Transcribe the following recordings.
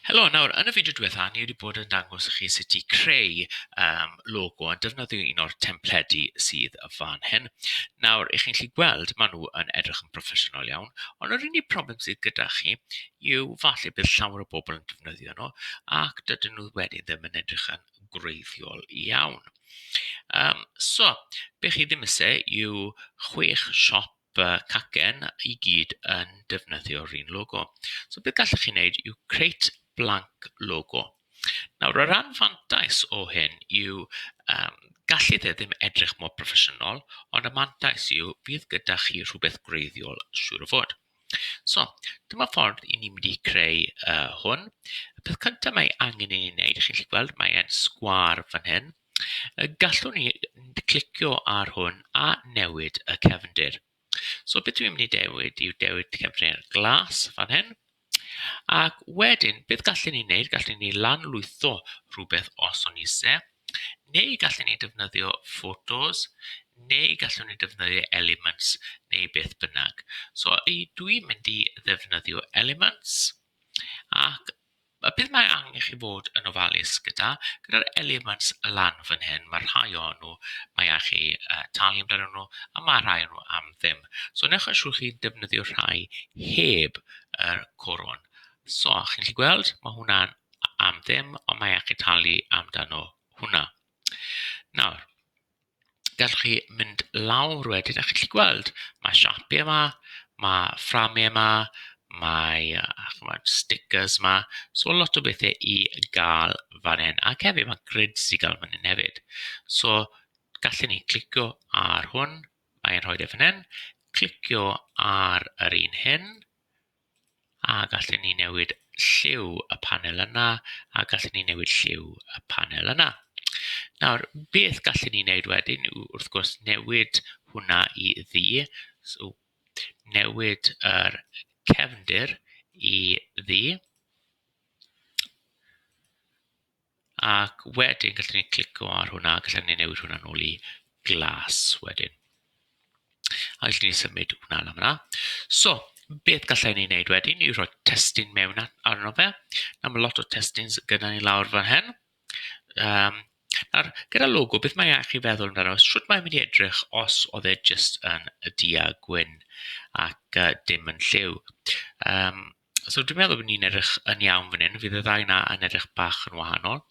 Helo, nawr yn y fideo diwetha ni wedi bod yn dangos i chi sut i creu yym logo a defnyddio un o'r templedi sydd fan hyn. Nawr, y'ch chi'n gallu gweld maen nhw yn edrych yn broffesiynol iawn, ond yr unig problem sydd gyda chi yw falle bydd llawer o bobl yn defnyddio nhw ac dydyn nhw wedyn ddim yn edrych yn gwreiddiol iawn. Yym so, be chi ddim isie yw chwech siop fy cacen i gyd yn defnyddio'r un logo. So beth gallwch chi wneud yw create blank logo. Nawr, yr anfantais o hyn yw um, gallu dde ddim edrych mor broffesiynol, ond y mantais yw bydd gyda chi rhywbeth gwreiddiol siŵr o fod. So, dyma ffordd i ni mynd i creu uh, hwn. Y peth cyntaf mae angen i ni wneud, chi'n gallu gweld, mae'n sgwar fan hyn. Gallwn ni clicio ar hwn a newid y cefndir. So beth dwi'n mynd i dewid yw dewid cefndir glas fan hyn. Ac wedyn, beth gallen ni wneud? Gallen ni lanlwytho rhywbeth os o'n eisiau, neu gallen ni defnyddio photos, neu gallwn ni defnyddio elements, neu beth bynnag. So dwi'n mynd i ddefnyddio elements, ac Mae beth mae angen i chi fod yn ofalus gyda, gyda'r elements lan fan hyn, mae rhai o nhw, mae angen chi yy talu amdanyn nhw, a mae rhai o nhw am ddim. So wnewch yn siŵr chi'n defnyddio rhai heb yr corwm. So chi'n gallu gweld, mae hwnna'n am ddim, ond mae angen chi talu amdano hwnna. Nawr, gallwch chi mynd lawr wedyn a chi'n gallu gweld mae siapiau 'ma, mae fframiau 'ma, mae yy chimod stickers 'ma, so lot o bethe i gael fan hyn. Ac hefyd mae grids i gael fan hyn hefyd, so gallen ni clicio ar hwn, mae e'n rhoid e fan hyn, clicio ar yr un hyn. A gallen ni newid lliw y panel yna, a gallen ni newid lliw y panel yna. Nawr, beth gallen ni wneud wedyn yw, wrth gwrs, newid hwnna i ddu. So, newid yr cefndir i ddu. Ac wedyn gallen ni clicio ar hwnna, gallen ni newid hwnna'n ôl i glas wedyn. A allwn ni symud hwnna lan fanna. So beth gallen ni wneud wedyn yw rhoi testun mewn arno fe. Nawr mae lot o testun gyda ni lawr fan hyn. Um, nawr, gyda logo, beth mae eich i feddwl amdano? Sut mae'n mynd i edrych os oedd e jyst yn y du a gwyn ac uh, dim yn lliw? Um, So dwi'n meddwl bod ni'n edrych yn iawn fan hyn. Fydd y ddau yna yn edrych bach yn wahanol.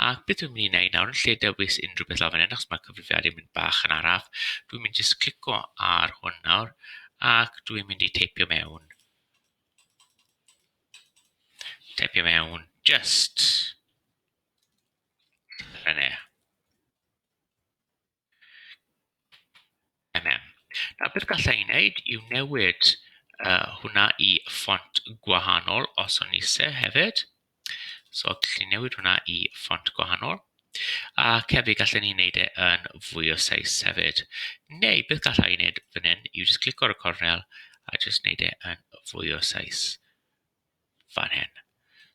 A beth dwi'n mynd i wneud nawr yn lle dewis unrhyw beth lawr fan hyn, achos mae'r cyfrifiadur yn mynd bach yn araf, dwi'n mynd jyst clico ar hwn nawr ac dwi'n mynd i teipio mewn. Teipio mewn just. Rhaid MM. Nawr beth galla i wneud yw newid uh, hwnna i ffont gwahanol os o'n eisiau hefyd. So gallu newid hwnna i ffont gwahanol. A hefyd gallen ni wneud e yn fwy o seis hefyd. Neu beth gallai i wneud fan hyn yw just clico ar y cornel a just wneud e yn fwy o seis. fan hyn.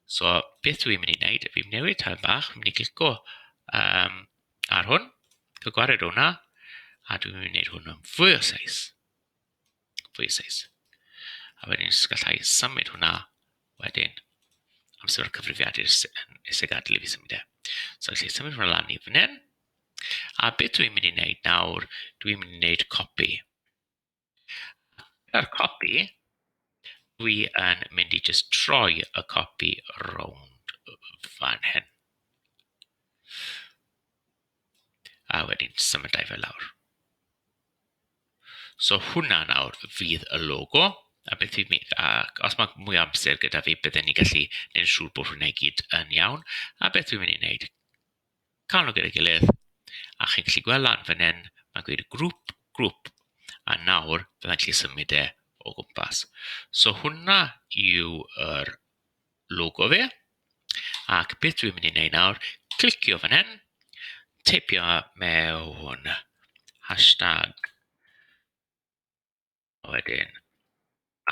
So beth dwi'n mynd i wneud, fi'n newid tair bach, fi'n mynd i glico um, ar hwn, cael gwared o hwnna, a dwi'n mynd i wneud hwn yn fwy o seis. Fwy o seis. A wedyn jyst gallai symud hwnna wedyn am symud cyfrifiad i'r iseg adl i fi symud e. So felly symud hwnna lan i fan hyn. A beth dwi'n mynd i wneud nawr, dwi'n mynd i wneud copi. A'r copi, dwi yn mynd i jyst troi y copi rownd fan hyn. A wedyn symud â i fe lawr. So hwnna nawr fydd y logo, a beth fi'n mynd... ac os mae mwy o amser gyda fi bydden ni'n gallu gwneud yn siŵr bod hwnna i gyd yn iawn, a beth fi'n mynd i wneud, cael nhw gyda'i gilydd a chi'n gallu gweld lan fan hyn mae'n gweud grŵp, grŵp a nawr fydda i'n gallu symud e o gwmpas. So hwnna yw yr logo fe ac beth dwi'n mynd i wneud nawr, clicio fan hyn, teipio mewn hashtag A wedyn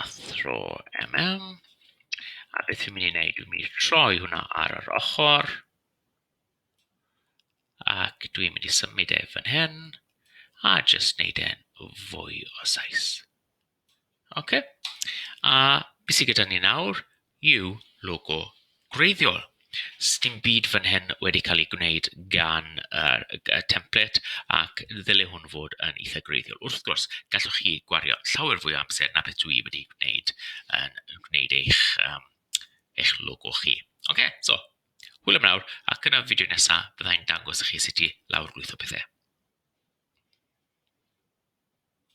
athro MM. A beth fi'n mynd i wneud yw mynd i troi hwnna ar yr ochr ac dwi'n mynd i symud e fan hyn a jyst wneud e'n fwy o size. Ocê a be sy gyda ni nawr? yw logo gwreiddiol. Sdim byd fan hyn wedi cael ei gwneud gan yr y template ac ddyle hwn fod yn eitha' gwreiddiol. Wrth gwrs, gallwch chi gwario llawer fwy o amser na beth dwi wedi gwneud yn yn gwneud eich yym eich logo chi. Ocê, so hwyl am nawr, ac yn y fideo nesa' bydda i'n dangos i chi sut i lawr-lwytho pethe.